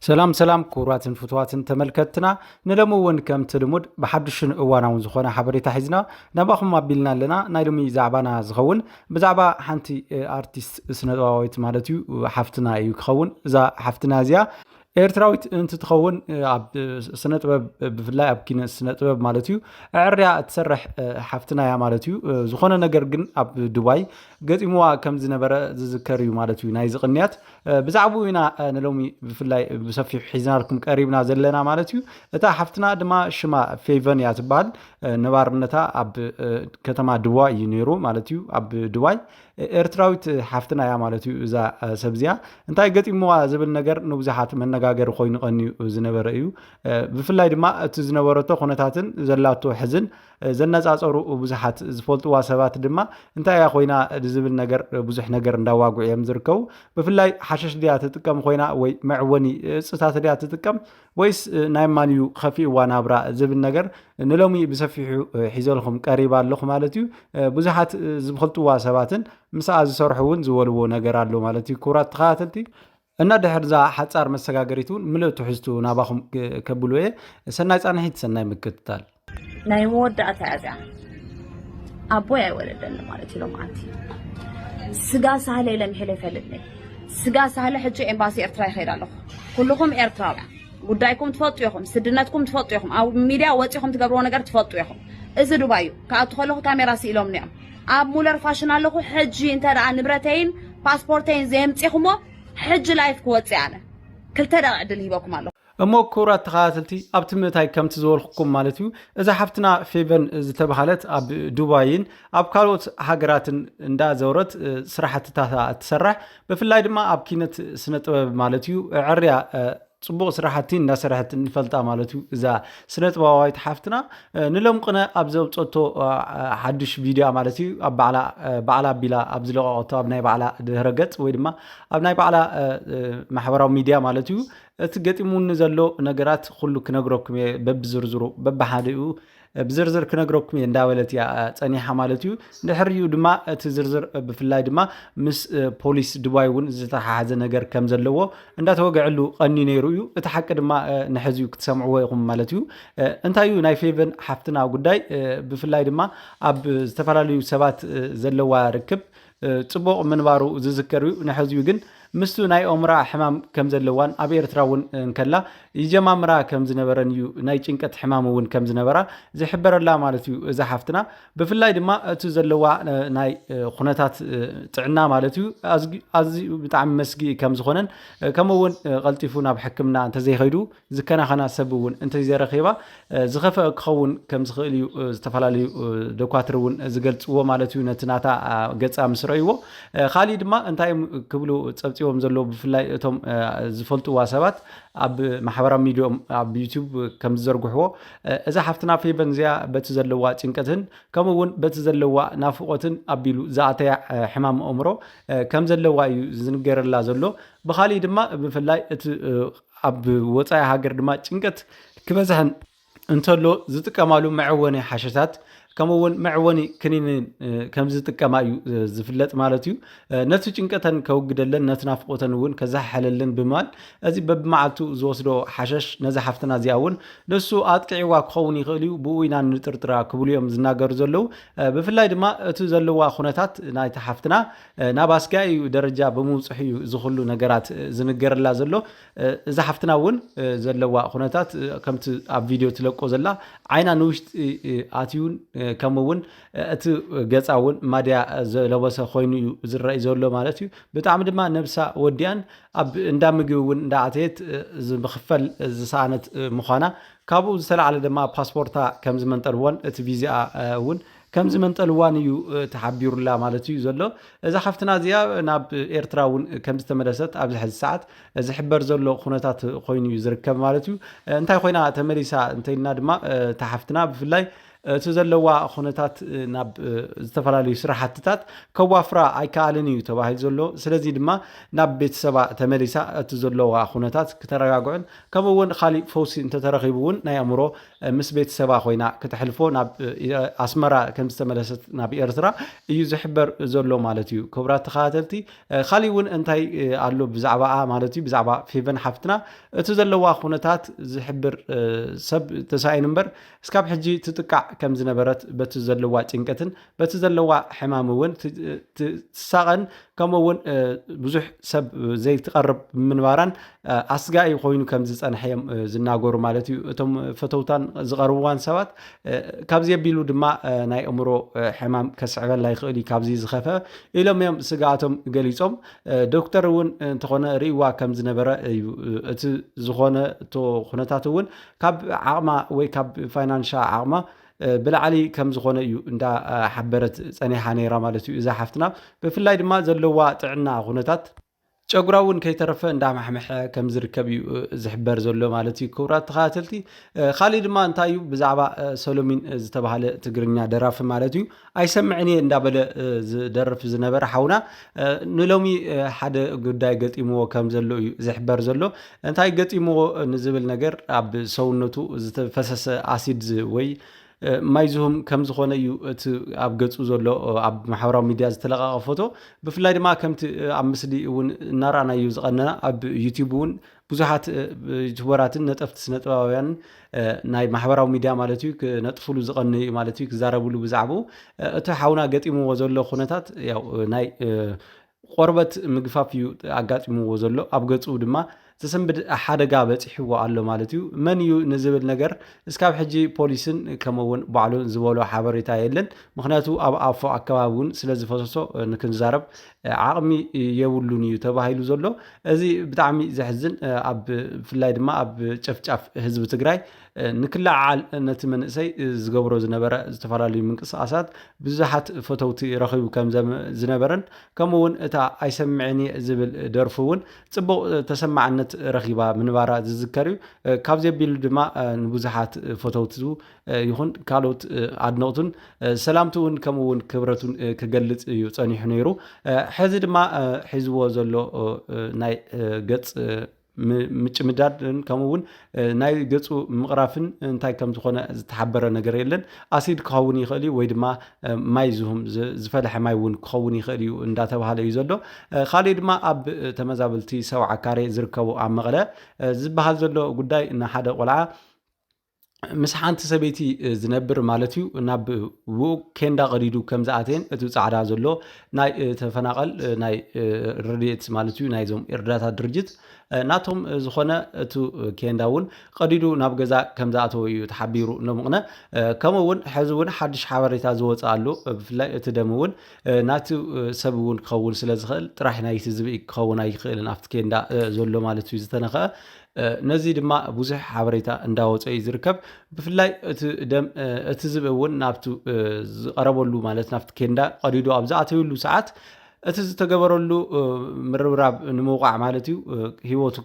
ሰላም ሰላም ክቡራትን ፍትዋትን ተመልከትና ንሎሚ እውን ከምቲ ልሙድ ብሓዱሽን እዋናውን ዝኾነ ሓበሬታ ሒዝና ናባኹም ኣቢልና ኣለና ናይ ሎሚ ዛዕባና ዝኸውን ብዛዕባ ሓንቲ ኣርቲስት ስነጥበባዊት ማለት እዩ ሓፍትና እዩ ክኸውን እዛ ሓፍትና እዚኣ ኤርትራዊት እንትትኸውን ኣብ ስነ ጥበብ ብፍላይ ኣብ ኪነ ስነ ጥበብ ማለት እዩ ዕርያ እትሰርሕ ሓፍትና እያ ማለት እዩ ዝኾነ ነገር ግን ኣብ ዱባይ ገጢምዋ ከም ዝነበረ ዝዝከር እዩ ማለት እዩ ናይ ዝቕንያት ብዛዕባኡ ኢና ንሎሚ ብፍላይ ብሰፊሑ ሒዝናልኩም ቀሪብና ዘለና ማለት እዩ እታ ሓፍትና ድማ ሽማ ፌቨን እያ ትበሃል ነባርነታ ኣብ ከተማ ድዋይ እዩ ነይሩ ማለት እዩ ኣብ ድዋይ ኤርትራዊት ሓፍትና እያ ማለት እዩ እዛ ሰብ እዚኣ እንታይ ገጢምዋ ዝብል ነገር ንብዙሓት መነጋገሪ ኮይኑ ቀንዩ ዝነበረ እዩ ብፍላይ ድማ እቲ ዝነበረቶ ኩነታትን ዘላቶ ሕዝን ዘነጻጸሩ ብዙሓት ዝፈልጥዋ ሰባት ድማ እንታይ እያ ኮይና ዝብል ነገር ብዙሕ ነገር እንዳዋግዑ እዮም ዝርከቡ። ብፍላይ ሓሸሽ ድያ ትጥቀም ኮይና ወይ መዕወኒ እጽታት ድያ ትጥቀም ወይስ ናይ ማን እዩ ከፊእዋ ናብራ ዝብል ነገር ንሎሚ ብሰፊሑ ሒዘልኹም ቀሪባ ኣለኹ ማለት እዩ። ብዙሓት ዝፈልጥዋ ሰባትን ምስኣ ዝሰርሑ እውን ዝበልዎ ነገር ኣሎ ማለት እዩ። ክቡራት ተኸታተልቲ እና ድሕር እዛ ሓጻር መሰጋገሪት እውን ምልእ ትሕዝቱ ናባኹም ከብሉ እየ። ሰናይ ጻንሒት፣ ሰናይ ምክትታል። ናይ መወዳእታ እያ እዚኣ ኣቦይ ኣይወለደኒ ማለት እዩ ሎምዓንቲ ስጋ ሳህለ ኢለ ምሒለ ይፈልጥኒ ስጋ ሳህለ ሕጂ ኤምባሲ ኤርትራ ይኸይድ ኣለኹ ኩልኹም ኤርትራውያን ጉዳይኩም ትፈልጡ ኢኹም፣ ስድነትኩም ትፈልጡ ኢኹም፣ ኣብ ሚድያ ወፂኹም ትገብርዎ ነገር ትፈልጡ ኢኹም። እዚ ዱባይ እዩ። ክኣቱ ከለኹ ካሜራ ስኢሎምኒ እዮም። ኣብ ሙለር ፋሽን ኣለኹ ሕጂ እንተ ንብረተይን ፓስፖርተይን ዘየምጺኹሞ ሕጂ ላይፍ ክወጽእ ኣነ ክልተ ደቂቅ ዕድል ሂበኩም ኣለኹ። እሞ ክቡራት ተኸታተልቲ ኣብቲ ምእታይ ከምቲ ዝበልኩኩም ማለት እዩ እዛ ሓፍትና ፌቨን ዝተባሃለት ኣብ ዱባይን ኣብ ካልኦት ሃገራትን እንዳ ዘውረት ስራሕትታታ እትሰርሕ ብፍላይ ድማ ኣብ ኪነት ስነ ጥበብ ማለት እዩ ዕርያ ጽቡቕ ስራሕቲ እንዳሰረሐት ንፈልጣ ማለት እዩ እዛ ስነ ጥበባዊት ሓፍትና ንለምቅነ ኣብ ዘውጸቶ ሓዱሽ ቪድያ ማለት እዩ ኣብ ባዕላ ባዕላ ኣቢላ ኣብ ዝለቀቀቶ ኣብ ናይ ባዕላ ድህረ ገጽ ወይ ድማ ኣብ ናይ ባዕላ ማሕበራዊ ሚድያ ማለት እዩ እቲ ገጢሙኒ ዘሎ ነገራት ኩሉ ክነግረኩም እየ በብዝርዝሩ በብሓደኡ ብዝርዝር ክነግረኩም እየ እንዳበለት እያ ፀኒሓ ማለት እዩ ድሕሪኡ ድማ እቲ ዝርዝር ብፍላይ ድማ ምስ ፖሊስ ድባይ እውን ዝተሓሓዘ ነገር ከም ዘለዎ እንዳተወግዐሉ ቀኒ ነይሩ እዩ እቲ ሓቂ ድማ ንሕዚ እዩ ክትሰምዕዎ ኢኹም ማለት እዩ እንታይ እዩ ናይ ፌቨን ሓፍትና ጉዳይ ብፍላይ ድማ ኣብ ዝተፈላለዩ ሰባት ዘለዋ ርክብ ጽቡቕ ምንባሩ ዝዝከር እዩ። ንሕዚኡ ግን ምስቱ ናይ ኦምራ ሕማም ከም ዘለዋን ኣብ ኤርትራ እውን እንከላ ይጀማምራ ከም ዝነበረን እዩ ናይ ጭንቀት ሕማም እውን ከም ዝነበራ ዝሕበረላ ማለት እዩ እዛ ሓፍትና ብፍላይ ድማ እቲ ዘለዋ ናይ ኩነታት ጥዕና ማለት እዩ ኣዝዩ ብጣዕሚ መስጊ ከም ዝኾነን ከምኡ እውን ቀልጢፉ ናብ ሕክምና እንተዘይኸይዱ ዝከናኸና ሰብ እውን እንተዘይረኺባ ዝኸፈኣ ክኸውን ከምዝኽእል እዩ ዝተፈላለዩ ዶኳትር እውን ዝገልፅዎ ማለት እዩ ነቲ ናታ ገፃ ምስ ረእይዎ ካሊእ ድማ እንታይ እዮም ክብሉ ፀብፂቦም ዘለዉ ብፍላይ እቶም ዝፈልጥዋ ሰባት ኣብ ማሕበራዊ ሚዲዮም ኣብ ዩቱብ ከም ዝዘርግሕዎ እዛ ሓፍትና ፌቨን እዚኣ በቲ ዘለዋ ጭንቀትን ከምኡ እውን በቲ ዘለዋ ናፍቆትን ኣቢሉ ዝኣተያ ሕማም ኣእምሮ ከም ዘለዋ እዩ ዝንገረላ ዘሎ ብካሊእ ድማ ብፍላይ እቲ ኣብ ወፃኢ ሃገር ድማ ጭንቀት ክበዝሐን እንተሎ ዝጥቀማሉ መዕወኒ ሓሸታት ከምኡ እውን መዕወኒ ክኒን ከም ዝጥቀማ እዩ ዝፍለጥ ማለት እዩ ነቲ ጭንቀተን ከውግደለን ነቲ ናፍቆተን እውን ከዛሓለለን ብምባል እዚ በብመዓልቱ ዝወስዶ ሓሸሽ ነዚ ሓፍትና እዚኣ እውን ንሱ ኣጥቂዕዋ ክኸውን ይኽእል እዩ ብኡ ኢና ንጥርጥራ ክብሉ እዮም ዝናገሩ ዘለዉ ብፍላይ ድማ እቲ ዘለዋ ኩነታት ናይቲ ሓፍትና ናብ ኣስጋኢኡ ደረጃ ብምብጽሑ እዩ እዚ ኩሉ ነገራት ዝንገረላ ዘሎ። እዛ ሓፍትና እውን ዘለዋ ኩነታት ከምቲ ኣብ ቪድዮ ትለቆ ዘላ ዓይና ንውሽጢ ኣትዩን ከምኡ እውን እቲ ገጻ እውን ማድያ ዝለበሰ ኮይኑ እዩ ዝረኣይ ዘሎ ማለት እዩ። ብጣዕሚ ድማ ነብሳ ወዲኣን ኣብ እንዳ ምግቢ እውን እንዳኣተየት ዝኽፈል ዝሰኣነት ምዃና ካብኡ ዝተላዕለ ድማ ፓስፖርታ ከም ዝመንጠልዎን እቲ ቪዚኣ እውን ከም ዝመንጠልዋን እዩ ተሓቢሩላ ማለት እዩ ዘሎ። እዛ ሓፍትና እዚኣ ናብ ኤርትራ እውን ከም ዝተመለሰት ኣብዚ ሕዚ ሰዓት ዝሕበር ዘሎ ኩነታት ኮይኑ እዩ ዝርከብ ማለት እዩ። እንታይ ኮይና ተመሊሳ እንተይልና ድማ እታ ሓፍትና ብፍላይ እቲ ዘለዋ ኩነታት ናብ ዝተፈላለዩ ስራሕትታት ከዋፍራ ኣይከኣልን እዩ ተባሂሉ ዘሎ ስለዚ ድማ ናብ ቤተሰባ ተመሊሳ እቲ ዘለዋ ኩነታት ክተረጋግዑን ከምኡ እውን ካሊእ ፈውሲ እንተተረኺቡ እውን ናይ ኣእምሮ ምስ ቤተሰባ ኮይና ክተሕልፎ ናብ ኣስመራ ከም ዝተመለሰት ናብ ኤርትራ እዩ ዝሕበር ዘሎ ማለት እዩ ክብራት ተኸታተልቲ ካሊእ እውን እንታይ ኣሎ ብዛዕባኣ ማለት እዩ ብዛዕባ ፌቨን ሓፍትና እቲ ዘለዋ ኩነታት ዝሕብር ሰብ ተሳኢኑ እምበር እስካብ ሕጂ ትጥቃዕ ከም ዝነበረት በቲ ዘለዋ ጭንቀትን በቲ ዘለዋ ሕማም እውን ትሳቐን ከምኡ እውን ብዙሕ ሰብ ዘይትቐርብ ምንባራን ኣስጋኢ ኮይኑ ከም ዝፀንሐ እዮም ዝናገሩ ማለት እዩ እቶም ፈተውታን ዝቐርብዋን ሰባት ካብዚ ኣቢሉ ድማ ናይ እምሮ ሕማም ከስዕበላ ይኽእል እዩ ካብዚ ዝኸፈ ኢሎም እዮም ስግኣቶም ገሊፆም ዶክተር እውን እንተኾነ ርእዋ ከም ዝነበረ እዩ እቲ ዝኾነ ኩነታት እውን ካብ ዓቕማ ወይ ካብ ፋይናንሻ ዓቕማ ብላዕሊ ከም ዝኾነ እዩ እንዳ ሓበረት ጸኒሓ ነይራ ማለት እዩ እዛ ሓፍትና ብፍላይ ድማ ዘለዋ ጥዕና ኩነታት ጨጉራ እውን ከይተረፈ እንዳማሕመሐ ከም ዝርከብ እዩ ዝሕበር ዘሎ ማለት እዩ ክቡራት ተኸታተልቲ ካሊእ ድማ እንታይ እዩ ብዛዕባ ሰሎሚን ዝተባሃለ ትግርኛ ደራፊ ማለት እዩ ኣይሰምዕን እየ እንዳበለ ዝደርፍ ዝነበረ ሓውና ንሎሚ ሓደ ጉዳይ ገጢምዎ ከም ዘሎ እዩ ዝሕበር ዘሎ እንታይ ገጢምዎ ንዝብል ነገር ኣብ ሰውነቱ ዝተፈሰሰ ኣሲድ ወይ ማይ ዝሁም ከም ዝኾነ እዩ እቲ ኣብ ገጹ ዘሎ ኣብ ማሕበራዊ ሚድያ ዝተለቀቀ ፎቶ ብፍላይ ድማ ከምቲ ኣብ ምስሊ እውን እናረኣናዩ ዝቀነና ኣብ ዩቲብ እውን ብዙሓት ዩቱበራትን ነጠፍቲ ስነጥበባውያንን ናይ ማሕበራዊ ሚድያ ማለት እዩ ክነጥፍሉ ዝቐንዩ እዩ ማለት እዩ ክዛረብሉ ብዛዕባኡ እቲ ሓውና ገጢምዎ ዘሎ ኩነታት ያው ናይ ቆርበት ምግፋፍ እዩ ኣጋጢምዎ ዘሎ ኣብ ገፁ ድማ ዘሰንብድ ሓደጋ በፂሕዎ ኣሎ ማለት እዩ መን እዩ ንዝብል ነገር እስካብ ሕጂ ፖሊስን ከምኡ እውን ባዕሉን ዝበሎ ሓበሬታ የለን ምክንያቱ ኣብ ኣፎ ኣከባቢ እውን ስለ ዝፈሰሶ ንክንዛረብ ዓቕሚ የብሉን እዩ ተባሂሉ ዘሎ እዚ ብጣዕሚ ዘሕዝን ኣብ ብፍላይ ድማ ኣብ ጨፍጫፍ ህዝቢ ትግራይ ንክለዓዓል ነቲ መንእሰይ ዝገብሮ ዝነበረ ዝተፈላለዩ ምንቅስቓሳት ብዙሓት ፈተውቲ ረኺቡ ከም ዝነበረን ከምኡ እውን እታ ኣይሰምዕን እየ ዝብል ደርፉ እውን ፅቡቕ ተሰማዕነት ረኺባ ምንባራ ዝዝከር እዩ ካብዚ ኣቢሉ ድማ ንብዙሓት ፈተውቱ ይኹን ካልኦት ኣድነቕቱን ሰላምትውን ከምኡ እውን ክብረቱን ክገልፅ እዩ ፀኒሑ ነይሩ ሕዚ ድማ ሒዝዎ ዘሎ ናይ ገፅ ምጭምዳድን ከምኡ እውን ናይ ገፁ ምቕራፍን እንታይ ከም ዝኾነ ዝተሓበረ ነገር የለን ኣሲድ ክኸውን ይኽእል እዩ ወይ ድማ ማይ ዝሁም ዝፈለሐ ማይ እውን ክኸውን ይኽእል እዩ እንዳተባሃለ እዩ ዘሎ ካልእ ድማ ኣብ ተመዛበልቲ ሰብዓ ካሬ ዝርከቡ ኣብ መቐለ ዝበሃል ዘሎ ጉዳይ ንሓደ ቆልዓ ምስ ሓንቲ ሰበይቲ ዝነብር ማለት እዩ ናብ ውኡ ኬንዳ ቀዲዱ ከም ዝኣተየን እቲ ፃዕዳ ዘሎ ናይ ተፈናቐል ናይ ረድኤት ማለት እዩ ናይዞም እርዳታ ድርጅት ናቶም ዝኾነ እቲ ኬንዳ እውን ቀዲዱ ናብ ገዛ ከም ዝኣተወ እዩ ተሓቢሩ ኖምቕነ ከምኡ እውን ሕዚ እውን ሓድሽ ሓበሬታ ዝወፅእ ኣሎ ብፍላይ እቲ ደም እውን ናቲ ሰብ እውን ክኸውን ስለ ዝኽእል ጥራሕ ናይቲ ዝብኢ ክኸውን ኣይክእልን ኣብቲ ኬንዳ ዘሎ ማለት እዩ ዝተነኸአ ነዚ ድማ ብዙሕ ሓበሬታ እንዳወፀ እዩ ዝርከብ ብፍላይ እቲ ደም እቲ ዝብ እውን ናብቲ ዝቀረበሉ ማለት ናብቲ ኬንዳ ቀዲዶ ኣብ ዝኣተዩሉ ሰዓት እቲ ዝተገበረሉ ምርብራብ ንምውቃዕ ማለት እዩ ሂወቱ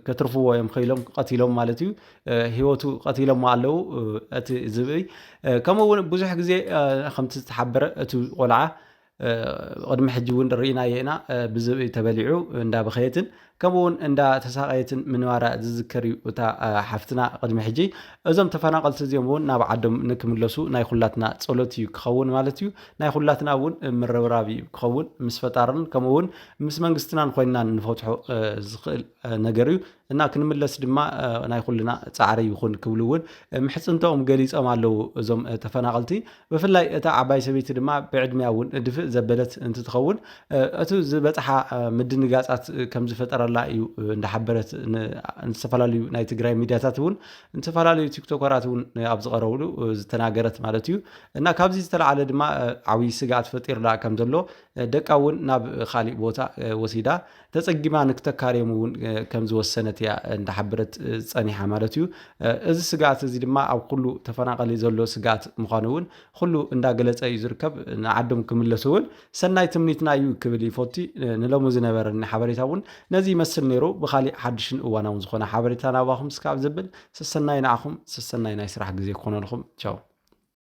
ከትርፍዎ እዮም ከኢሎም ቀቲሎም ማለት እዩ ሂወቱ ቀቲሎሞ ኣለው እቲ ዝብእይ ከምኡ እውን ብዙሕ ግዜ ከምቲ ዝተሓበረ እቲ ቆልዓ ቕድሚ ሕጂ እውን ርኢናዮ ኢና ብዝብኢ ተበሊዑ እንዳበኸየትን ከምኡ እውን እንዳተሳቐየትን ምንባራ ዝዝከር እዩ እታ ሓፍትና ቕድሚ ሕጂ እዞም ተፈናቐልቲ እዚኦም እውን ናብ ዓዶም ንክምለሱ ናይ ኩላትና ጸሎት እዩ ክኸውን ማለት እዩ ናይ ኩላትና እውን ምርብራብ እዩ ክኸውን ምስ ፈጣርን ከምኡ እውን ምስ መንግስትናን ኮይንና ንፈትሖ ዝኽእል ነገር እዩ እና ክንምለስ ድማ ናይ ኩልና ጻዕሪ ይኹን ክብሉ እውን ምሕጽንተኦም ገሊጾም ኣለዉ እዞም ተፈናቐልቲ ብፍላይ እታ ዓባይ ሰበይቲ ድማ ብዕድሚያ እውን ድፍእ ዘበለት እንትትኸውን እቱ ዝበፅሓ ምድንጋፃት ከምዝፈጠረላ እዩ እንዳሓበረት ንዝተፈላለዩ ናይ ትግራይ ሚዲያታት እውን ንዝተፈላለዩ ቲክቶከራት እውን ኣብ ዝቐረብሉ ዝተናገረት ማለት እዩ እና ካብዚ ዝተለዓለ ድማ ዓብይ ስግኣት ፈጢርላ ከም ዘሎ ደቃ እውን ናብ ካሊእ ቦታ ወሲዳ ተጸጊማ ንክተካርዮም እውን ከም ዝወሰነት እያ እንዳሓበረት ጸኒሓ ማለት እዩ። እዚ ስግኣት እዚ ድማ ኣብ ኩሉ ተፈናቐሊ ዘሎ ስግኣት ምዃኑ እውን ኩሉ እንዳገለጸ እዩ ዝርከብ። ንዓዶም ክምለሱ እውን ሰናይ ትምኒትና እዩ ክብል ይፎቲ። ንሎሚ ዝነበረኒ ሓበሬታ እውን ነዚ ይመስል ነይሩ። ብኻሊእ ሓድሽን እዋናውን ዝኾነ ሓበሬታ ናባኹም ስካብ ዘብል ሰሰናዩ ንዓኹም ሰሰናዩ ናይ ስራሕ ግዜ ክኾነልኹም ቻው።